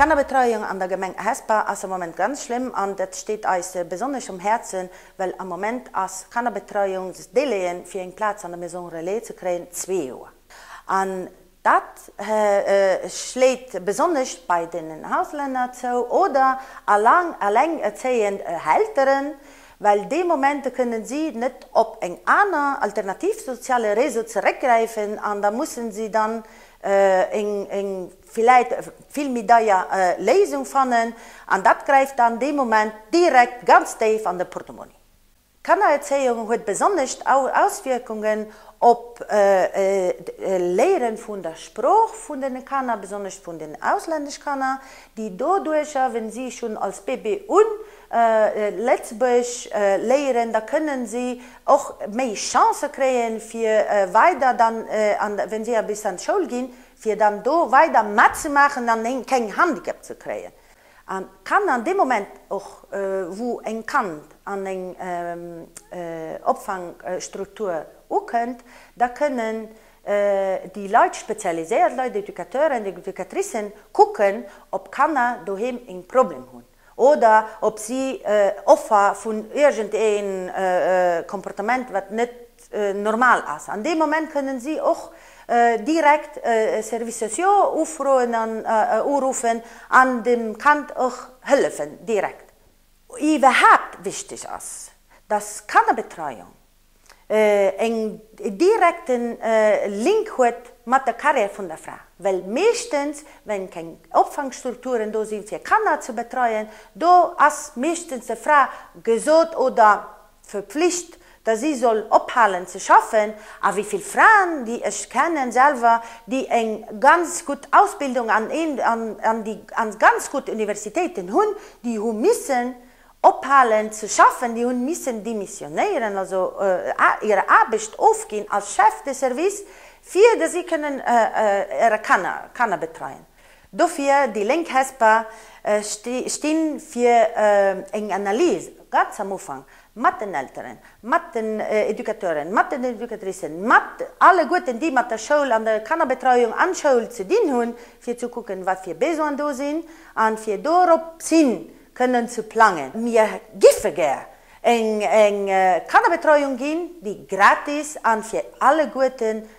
D'Kannerbetreiung an der Gemeng Hesper ass am Moment ganz schlëmm an dat steet eis besonnesch um Häerzen, well am Moment ass Kannerbetreiungsdélai'en fir eng Plaz an der Maison relais ze kréien zwee Joer. Dat schléit besonnesch bei den Auslänner zou oder allengerzéiend Elteren, well déi Momente kënnen si net op eng aner alternativ soziale Réseau zeréckgräifen an da mussen si dann eng villäit vill méi deier Léisung fannen an dat gräift dann dee Moment direkt ganz déif an de Portemonni. D'Kannererzéiung huet besonnesch Auswierkungen op d'Léieren vun der Sprooch vun den Kanner, besonnesch vun den auslännesch Kanner, déi doduercher, wenn si schon als Bébé un Lëtzebuerg léieren, da kënnen si och méi Chancen kréien fir weider dann an, wenn si bis an d'Schoul ginn, fir dann do weider matzemaachen an keng Handicap ze kréien. An kann an deem Moment och wou eng Kand an eng Opfangstruktur ukënnt, da kënnen déi Leit, d'spezialiséiert Leit, d'Educateuren, d'Educatricen, kucken ob Kanner doheem en Problem hunn oder ob si Offer vun iergendee Comportement wat net normal ass. An deem Moment kënnen si och direkt e Service sociaux ufroen an uruffen an dem Kand och hëllefen, direkt. Iwwerhaapt wichteg ass, dass Kannerbetreiung en direkte Link huet mat der Carrière vun der Fra, well meeschtens, wenn keng Opfangstrukturen do sinn, fir Kanner ze betreien, do ass meeschtens der Fra gesot oder Verpflicht, dass si soll ophalen ze schaffen, a wéi vill Fraen, déi ech kennen selwer, déi eng ganz gutt Ausbildung an een, an déi an ganz gutt Universitéiten hunn, déi hu missen ophalen ze schaffen, déi hunn missen demissionéieren, also hir Aarbecht ofginn als Chef de service, fir dass si kënnen hire Kanner, Kanner betreien. Dofir, déi Lénk Hesper sti fir eng Analys, ganz am Ufank, mat den Elteren, mat den Educateuren, mat den Educatricen, mat alleguerten, déi mat der Schoul an der Kannerbetreuung an Schoul ze dinn hunn, fir ze kucken, wat fir Besoinen do sinn a fir doropshin kënnen ze plangen. Mir géife gär eng Kannerbetreuung ginn, déi gratis a fir alleguerten